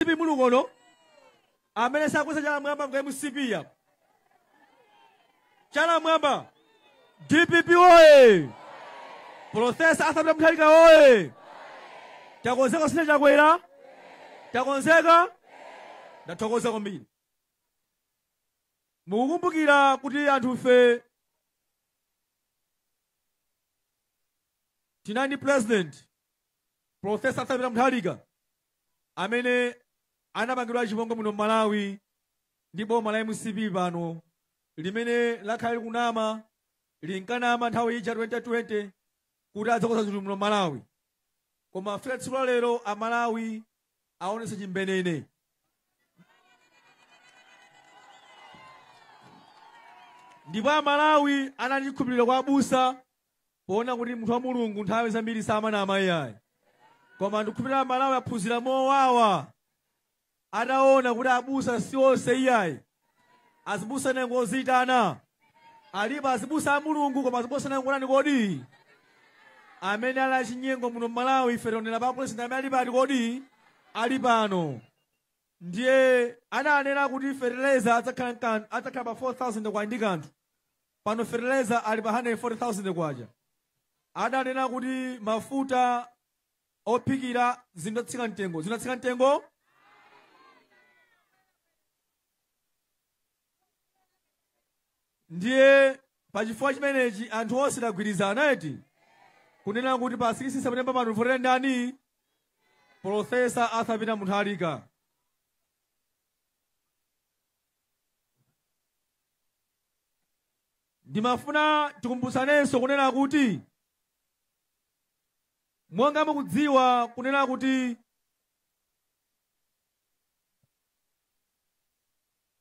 mcp muli kuno amene sakweza chala mwamba ngwa mcp ya chala mwamba dpp oye profesa arthur peter munthalika oye takonzeka sine chakwera takonzeka ndathokoza kwambiri mukukumbukira kuti anthufe tinali ndi president Profesa Arthur Peter Mutharika amene anapangidwa chipongwe muno m'Malawi ndi boma la mcp pano limene lakhala likunama linkanama nthawi ija 2020 kuti adzakonza zinthu muno m'Malawi koma afika tsiku la lero amalawi aonesa chimbenene ndipo amalawi anali ndi chikhulupiriro kwa abusa Poona kuti munthu wa Mulungu nthawi zambiri samanama iyayi, koma ndikukhulupirira aMalawi aphunzira mowawa ataona kuti abusa si onse iyayi. Azibusa ena ngoziitana, alipo azibusa a Mulungu koma azibusa ena ngotani kodi? Amene ali achinyengo muno m'Malawi ife tionera pa president amene ali pati kodi? Ali pano. Ndiye ananena kuti fertilizer adzakhala nkan- adzakhala pa 4000 kwacha ndi kanthu pano fertilizer ali pa 140000 kwacha adanena kuti mafuta ophikira zinatsika mtengo zinatsika mtengo ndiye pachifukwa chimenechi anthu onse tagwirizana eti kunena kuti pa 16 september pano tivotera ndani profesa arthur peter munthalika ndimafuna tikumbutsanenso kunena kuti monga mukudziwa kunena kuti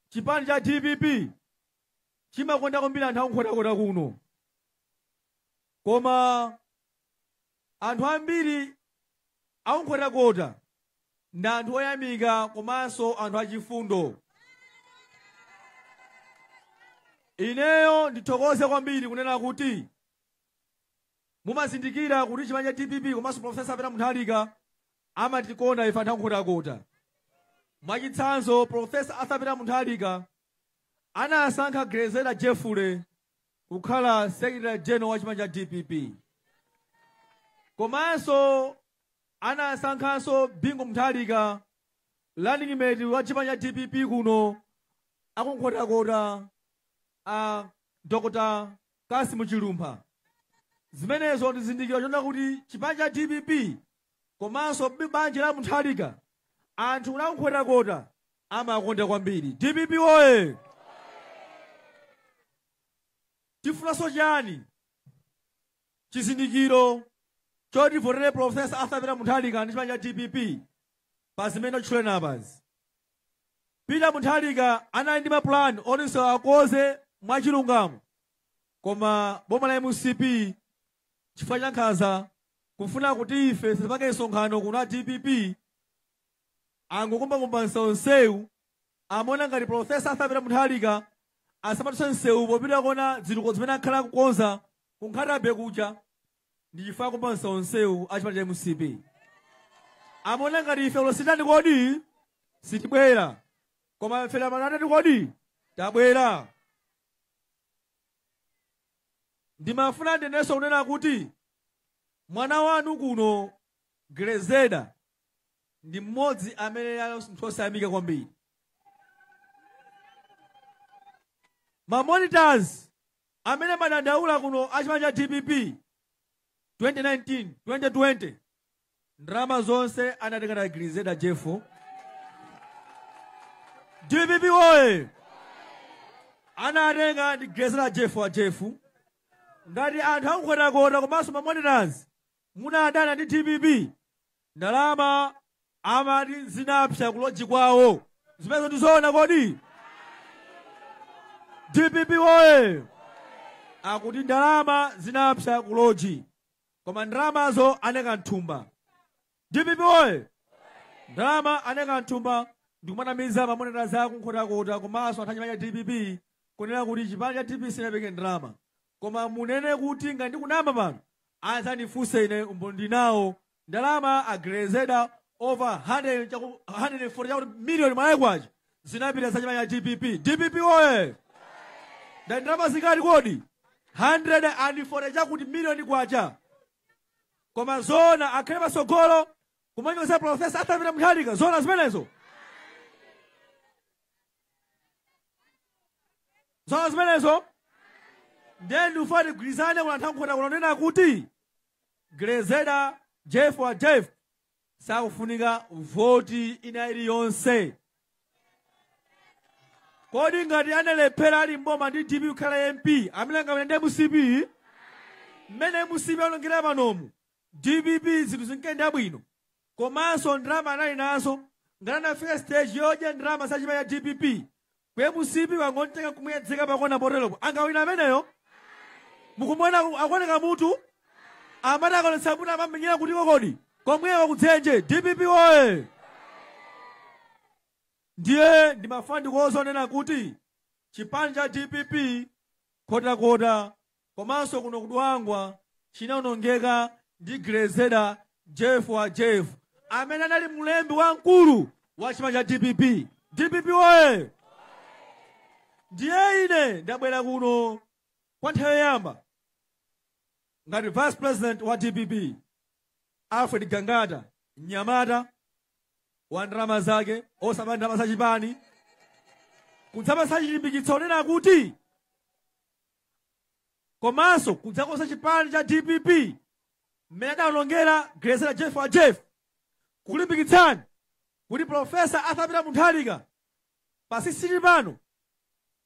Chipani cha dpp chimakonda kwambiri anthu akunkhotakota kuno, koma anthu ambiri akunkhotakota ndi anthu oyamika komanso anthu achifundo. Ineyo ndithokoze kwambiri kunena kuti Mumazindikira kuti chipani cha dpp komanso Professor Arthur Peter Munthalika amatikonda ife anthu akunkhotakota. Mwachitsanzo Professor Arthur Peter Munthalika anasankha Grezelder Jeffrey kukhala Secretary General wa chipani cha dpp. Komanso anasankhanso Bingu Munthalika running mate wa chipani cha dpp kuno akunkhotakota a Dr. Kassim Chilumpha zimenezo ndi chizindikiro chonena kuti chipani cha dpp komanso banja la Mutharika anthu a Nkhotakota amakonda kwambiri? Dpp woye! Tifunanso chani? Chizindikiro choti tivotere Prof. Arthur Peter Mutharika ndi chipani cha dpp pa zimene tatchuleni apazi? Peter Mutharika anali ndi maplan oti msewu akonze mwa chilungamo koma boma la mcp chifukwa cha nkhanza kufuna kuti ife tisapange msonkhano kuno a dpp angokumbakumba msewu msewu amaona ngati profesa Arthur Peter Mutharika asamadutse msewu popita kukaona zitukuko zimene akhala akukonza ku Nkhata Bay kuja Ndi chifukwa akumbanso msewu a chipani cha mcp amaona ngati ife lero sititani kodi sitibwera koma ife lero mwaona tatani kodi tabwera ndimafuna ndinenenso kunena kuti mwana wanu kuno Grezeda ndi mmodzi amene ali munthu osayamika kwambiri mamonitors Amene amadandaula kuno a chipani cha dpp 2019 2020 ndalama zonse anatenga ndi a Grezeda Jeff. Dpp woye anatenga ndi Grezeda Jeff wa Jeff. Ngati anthu aku Nkhotakota komanso mamonitors munadana ndi dpp ndalama amati zinapsa kuloji kwawo zimenezo ndizoona kodi dpp woye akuti ndalama zinapsa kuloji koma ndalamazo anaika mthumba dpp woye ndalama anaika mthumba ndikumanamiza mamonitors aku Nkhotakota komanso anthu achipani cha dpp kunena kuti chipani cha dpp sichinapereke ndalama koma munene kuti ngati ndikunama pano Adzandifunse ine umboni ndili nawo ndalama a Grezeda over 140 chakuti million Malawi kwacha zinapita za chipani cha dpp. Dpp woye! Ndati ndalama zingati kodi? 140 chakuti million kwacha. Koma zoona akhale patsogolo kumanyoza Professor Arthur Peter Mutharika zoona zimenezo. zoona zimenezo ndiye ndifuna tigwirizane kuno anthu a Nkhotakota kunena kuti Grezeda Jeff wa Jeff sakufunika voti ina iliyonse kodi ngati analephera ali mboma ndi dpp kukhala mp amene angawine ndi mcp mmene mcp aonongera panomu Dpp zinthu zinkayenda bwino komanso ndalama anali nazo ngati anafika stage yodya ndalama za chipani cha dpp koma mcp yangomutenga kumuyedzeka pakona poteropo angawina ameneyo mukumwena aku- akuoneka mutu amati akaonetsa mutu amamenyera kutiko kodi komweko kudzenje dpp oye ndiye ndimafuna ndikuuzeni zonena kuti chipani cha dpp Nkhotakota Komanso kuno ku Dwangwa chinaonongeka ndi Grezeder Jeff wa Jeff amene anali mlembi wamkulu wa chipani cha dpp. Dpp woye! Ndiye ine ndabwera kuno kwa nthawi yoyamba ngati vice president wa dpp Alfred Gangata, mnyamata wa ndalama zake osaba ndalama za chipani kudzapatsa chilimbikitso chonena kuti komanso kudzakonza chipani cha dpp mmene adaonongera Grezeder Jeff wa Jeff kukulimbikitsani kuti profesa Arthur Peter Mutharika pa sikisitini pano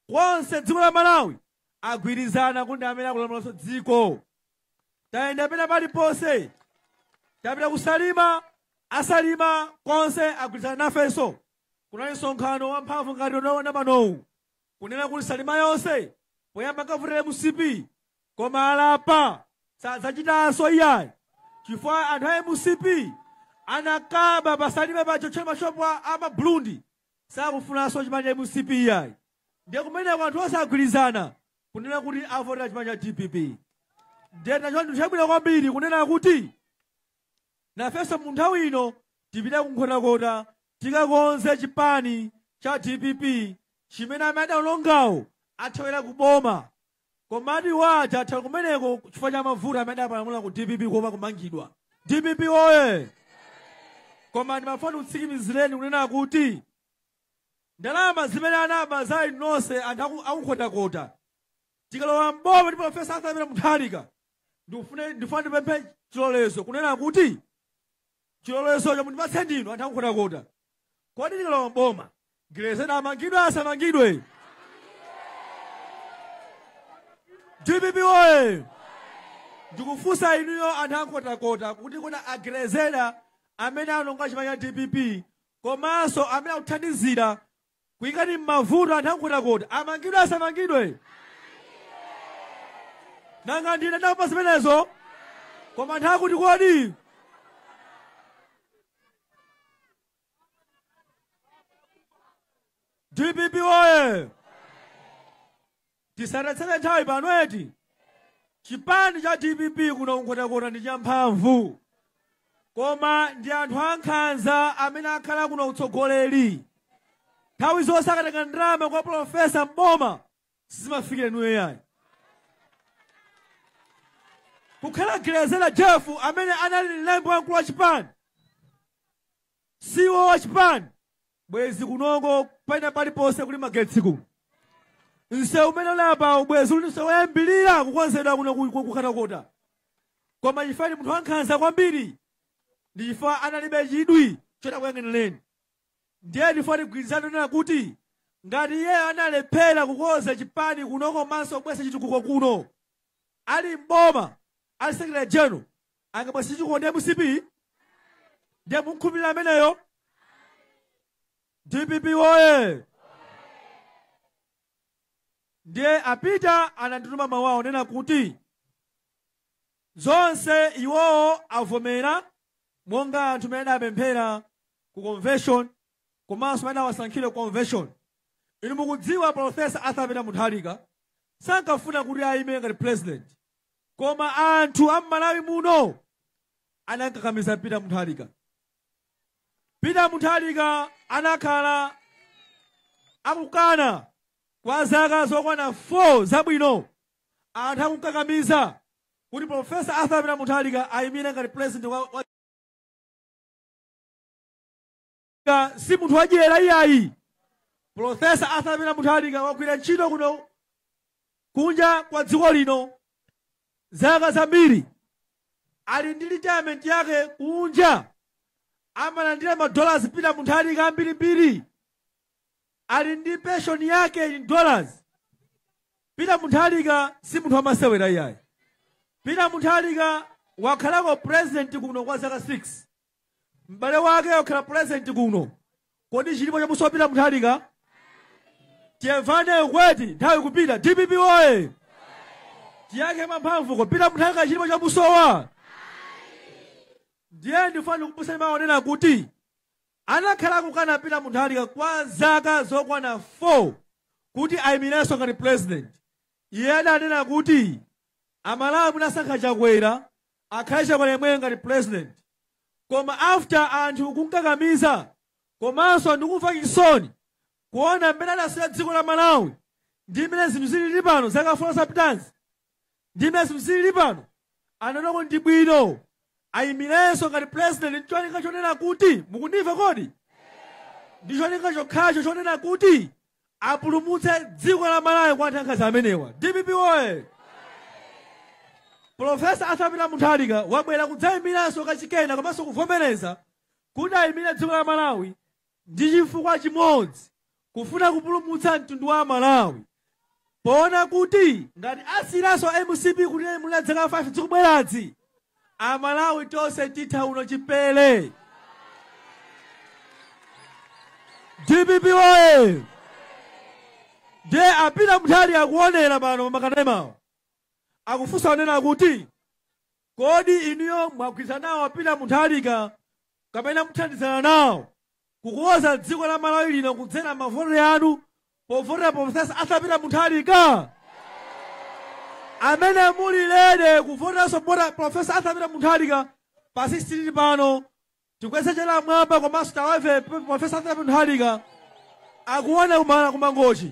konse dziko la malawi agwirizana kuti ndi amene akulamulanso dziko tayenda pena paliponse tapita kusalima asalima konse agwirizana nafenso kunali msonkhano wamphamvu ngati ulipo pano panowu kunena kuti salima yonse poyamba inkavotera mcp koma alapa sadzachitanso iyayi chifukwa anthu a mcp ankaba pasalima paja kuotchera mashopu a a mabulundi sakufunanso chipani cha mcp iyayi ndiye kumeneko anthu onse agwirizana kunena kuti avotera chipani cha dpp ndiye nachona chinthu chabwino kwambiri kunena kuti nafenso mu nthawi ino tipite kunkhotakota Tikakonze chipani cha dpp chimene amene adaonongawo athawira ku boma. Komatu iwo aja athawira kumeneko chifukwa cha mavuto amene adapalamula ku dpp kuopa kumangidwa. Dpp woye! Koma ndimafuna ndikutsikimizireni kunena kuti ndalama zimene anaba za inu nonse anthu aku- aku Nkhotakota tikalowa m'boma ndi Professor Arthur Peter Mutharika ndikufune- ndifuna ndipemphe chilolezo kunena kuti chilolezocho mundipatse ndinu anthu akunkhotakota kodi tikalowa mboma Grezeder amangidwe asamangidwe dpp oye ndikufunsa inuyo anthu ankhotakota kuti kodi a Grezeder amene anaononga chipani cha dpp komanso amene akuthandizira kuikani mmavuto anthu ankhotakota amangidwe asamangidwe nanga ndine ndapanga zimenezo koma anthu akuti kodi dpp oye tisatatsere nthawi pano eti chipani cha dpp kuno kunkhotakota ndi champhamvu koma ndi anthu ankhanza amene akhala kuno utsogoleri nthawi zonse akatenga ndalama kwa profesa mboma sizimafikira inuyo yayi kukhala grezelder jeff amene anali mlembi wamkulu wa chipani CEO wachipani bwezi kunoko pena paliponse kuli magetsi ku nsewu umene uli apawu bwezi uli nsewu woyambirira kukonzedwa kuno ku- ku- kunkhotakota koma chifukwa ndi munthu wankhanza kwambiri ndi chifukwa analibe chidwi choti akuyang'anireni ndiye ndifuna tigwirizane kunena kuti ngati iyeyo analephera kukonza chipani kuno komanso kubweretsa chitukuko kuno ali mboma ali secretary general angabweretse chitukuko ndi mcp ndiye mumkhulupirira ameneyo dpp woye ndiye a peter anandituma mawu awo onena kuti zonse iwowo avomera monga anthu mmene adapemphera ku convention komanso mmene anawasankhira ku convention inu mukudziwa profesa arthur peter mutharika sankafuna kuti ayime ngati president Koma anthu a m'Malawi muno anamkakamiza Peter Mutharika. Peter Mutharika anakhala akukana kwa zaka zokwana 4 zabwino anthu akumkakamiza kuti Profesa Arthur Peter Mutharika ayimire ngati president wa, wa Mutharika si munthu wadyera iyayi. Pulofesa Arthur Peter Mutharika wagwira ntchito kuno kunja kwa dziko lino zaka zambiri. Ali ndi retirement yake kunja amalandira ma dollars Peter Mutharika ambirimbiri. Ali ndi pension yake in dollars. Peter Mutharika si munthu wamasewera iyayi. Peter Mutharika wakhalako president kuno kwa zaka 6. m'bale wake wakhala pulezidenti kuno kodi chilipo chamusowa peter mutharika timvane uku eti nthawi ikupita dpp oye tiyankhe mwamphamvu kodi peter mutharika chilipo chamusowa ndiye ndifuna ndikupatseni mawu onena kuti anakhala akukana peter mutharika kwa zaka zokwana 4 kuti ayimirenso ngati pulezidenti iye adanena kuti amalawi munasankha chakwera akhale chakwera yemweyo ngati president koma after anthu kunkakamiza komanso ndikumva chisoni kuona mmene adasiyira dziko la malawi ndi mmene zinthu zilili pano zaka 4 zapitazi ndi mmene zinthu zilili pano anaona kuti ndi bwino ayimirenso ngati president ndi cholinga chonena kuti mukundimva kodi ndi cholinga chokhacho chonena kuti apulumutse dziko la malawi kwa anthu ankhanza amenewa dpp oye profesa arthur peter mutharika wabwera kudzayimiranso kachikena komanso kuvomereza kuti ayimire dziko la malawi ndi chifukwa chimodzi kufuna kupulumutsa mtundu wa amalawi Poona kuti ngati asiyiranso mcp kuti ilamule dzaka 5 dzikubweradzi, a Malawi tonse titha uno chipere. Dpp woye! Ndiye a Peter Mutharika akuonera pano pa makanemawa. Akufunsa kunena kuti Kodi inuyo mwagwirizana nawo a Peter Mutharika kapena muthandizana nawo kukonza dziko la Malawi lino kudzera mavoti anu povotera Professor Arthur Peter Mutharika? Amene muli ready kuvoteranso bota Professor Arthur Peter Mutharika pa 16 pano tikweze chala mwamba komanso tawave Professor Arthur Peter Mutharika akuoneni kumene ku Mangochi.